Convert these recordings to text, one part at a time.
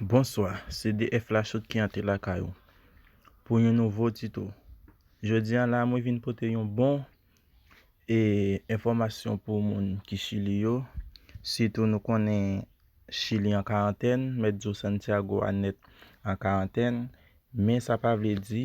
Bonswa, se DF Lachotte ki antre lakay ou pou yon nouvo tito. Jodi an la mwen vin pote yon bon e enfòmasyon pou moun ki Chili yo, sitou nou konnen Chili an karantèn, Mèt Djo Santiago a nèt an karantèn, men sa pa vle di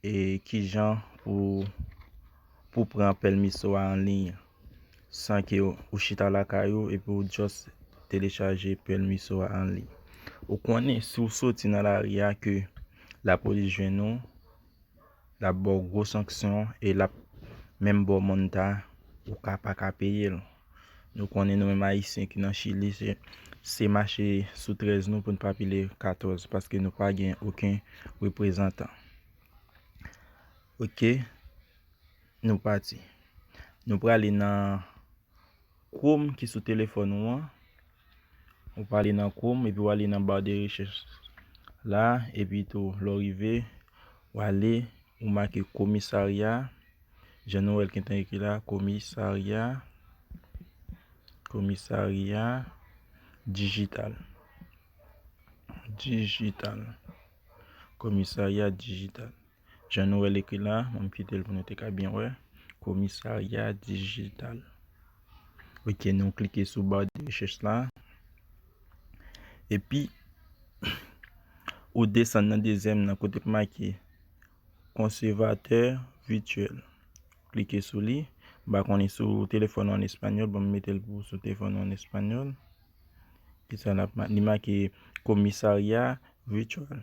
E kijan pou pou pran pèlmiso a anliy san ke ou chita lakay ou epi ou just telechaje pèlmiso a anliy. Ou konnen si ou soti nan lari a ke lapolis jwenn ou, l ap ba w gwo sanksyon e l ap menm ba w monn ta ou ka pa ka peye l. Nou konnen nou menm Ayisyen ki nan Chili se se mache sou 13 nou pou n pa pile 14 paske nou pa gen oken reprezantan. Ok, nou pati. Nou prale nan Chrome ki sou telefòn ou an. Ou pa ale nan Chrome epi ou ale nan bar de recherche la epi tou lè ou rive ou ale ou make komisarya jan nou wèl gentan ekri la komisarya komisarya dijital dijital komisarya dijital. Jan nou wè l ekri la, m kite l pou nou te ka byen wè, Komisarya Dijital. Ok, nou klike sou bar de recherche la. Epi, ou desann nan dezyèm nan kote ki make Conservateur Virtuel. Klike sou li. M pa konnen si w telefòn ou an espanyòl, bon m mete l pou sou telefòn ou an espanyòl. Li make Komisarya Virtuel.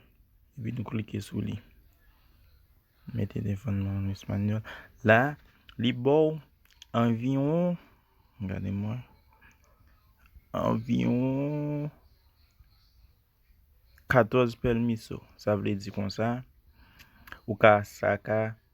Epi nou klike sou li. Mete devan nou an espanyòl. La, li ba w anviwon, gade m wè, anviwon 14 pèmiso. Sa vle di konsa, ou ka sa ka.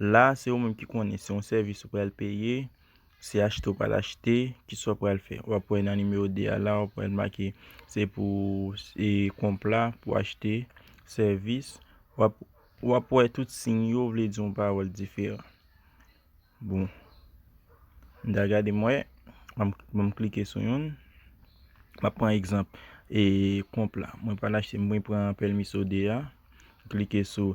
La a se ou menm ki konnen se yon sèvis ou pral peye, se achte ou pral achte, ki sa ou pral fè. W ap wè nan nimewo 2 a la, w ap wè l make se pou e konpla pou achte sèvis. W ap w ap wè tout siy yo vle di yon pawòl diferan. Bon, m da gade m wè, m ban m klike sou youn. M ap pran egzanp e konpla. Mwen pral achte mwen pran pèlmiso 2 a, m klike sou.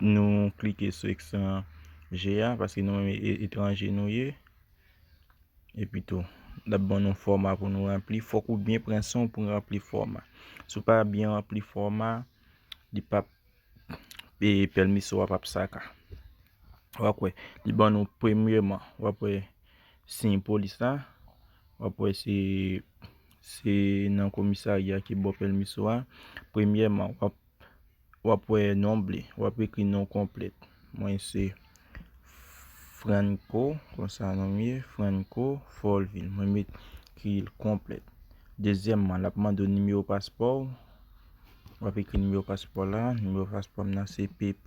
Nou klike sou ekstrè je a paske nou menm etranje nou ye. Epi tou, l ap ban nou fòma pou nou ranpli. Fòk ou byen pran san w pou ranpli fòma. Si w pa byen ranpli fòma, li pap, pèmis ou a pap saka. Wap wè li ban nou premyeman wap wè siy polis la wap wè se se nan komisarya ki bò pèlmiso a premyèman wap wap wè nonb li wap ekri non konplèt mwen se Franco konsa nonm ye Franco Folvil mwen met kriyil konplèt dezyèmman lap mande w nimewo paspò w wap ekri nimewo paspò la nimewo paspò m nan se PP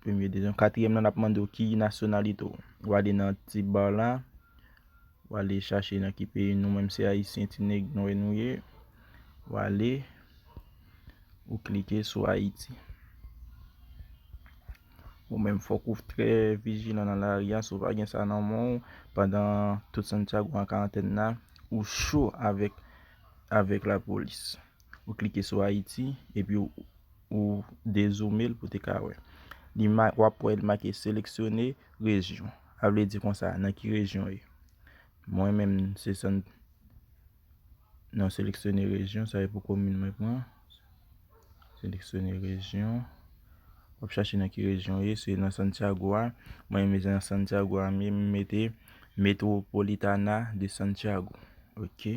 Premye dezyon katriyèm lan ap mande w ki nasyonalite w. Ou ale nan ti bar la, ou ale chache nan ki peyi nou menm se ayisyen ti nèg nwè nou ye. Ou ale, ou klike sou Ayiti. Ou menm fòk ou trè vijilan nan lari a si w pa gen sa nan men w pandan tout Santiago an karantèn la, ou cho avèk avèk lapolis. Ou klike sou Ayiti epi ou dezoume l pou te ka wè. Li ma, w ap wè li make seleksyone rejyon. A vle di konsa, nan ki rejyon w ye. Mwen menm se san, nan seleksyone rejyon, sa e pou komin mwen pran. Seleksyone rejyon. W ap chache nan ki rejyon w ye. Se nan Santiago a. Mwen menm se nan Santiago a m ye. M mete Metropolitana de Santiago. Ok.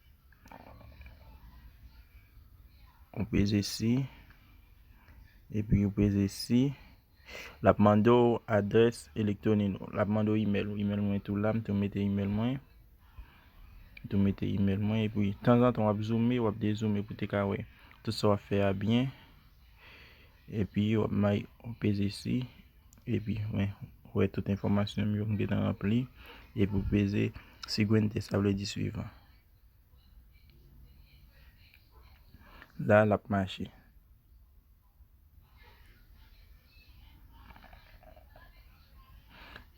Ou peze si, epi ou peze si. L ap mande w adrès elektwonik nou. L ap mande w imèl ou. Imèl mwen tou la, m tou mete imèl mwen. M tou mete imèl mwen epi tanzantan w ap zoume, w ap dezoume pou te ka wè tout sa w ap fè a byen. Epi yo ap may ou peze si epi mwen wè tout enfòmasyon m yo m gentan ranpli epi ou peze siguiente sa vle di suivan la l ap mache.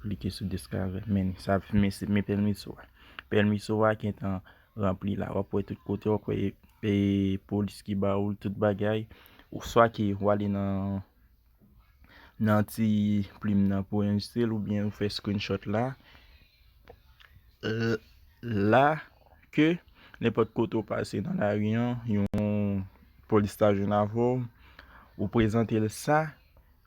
Klike sou discover menu sa ap men pèmiso a pèmiso a gentan ranpli la wap wè tout kote wap wè e polis ki ba ou tout bagay ou swa ke ou ale nan nan ti plim nan pou anjistre l oubyen ou fè screenshot la la ke nenpòt kote ou pase nan lari an yon polis ta jwenn avèw ou prezante l sa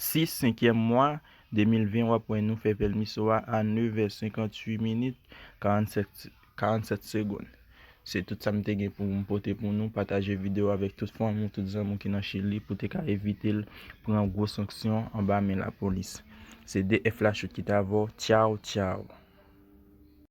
6 senkyèm mwa 2020 wap wè nou fè Velmiso a a 9 è 58 minit 47 segonn Se tout sa m te gen pou m pote pou nou, pataje video avèk tout fanmi w tout zanmi w ki nan chili pou te ka evite l pran gwo sanksyon anba men lapolis Se 2 F Lachoute ki t avè w Tchaw tchaw.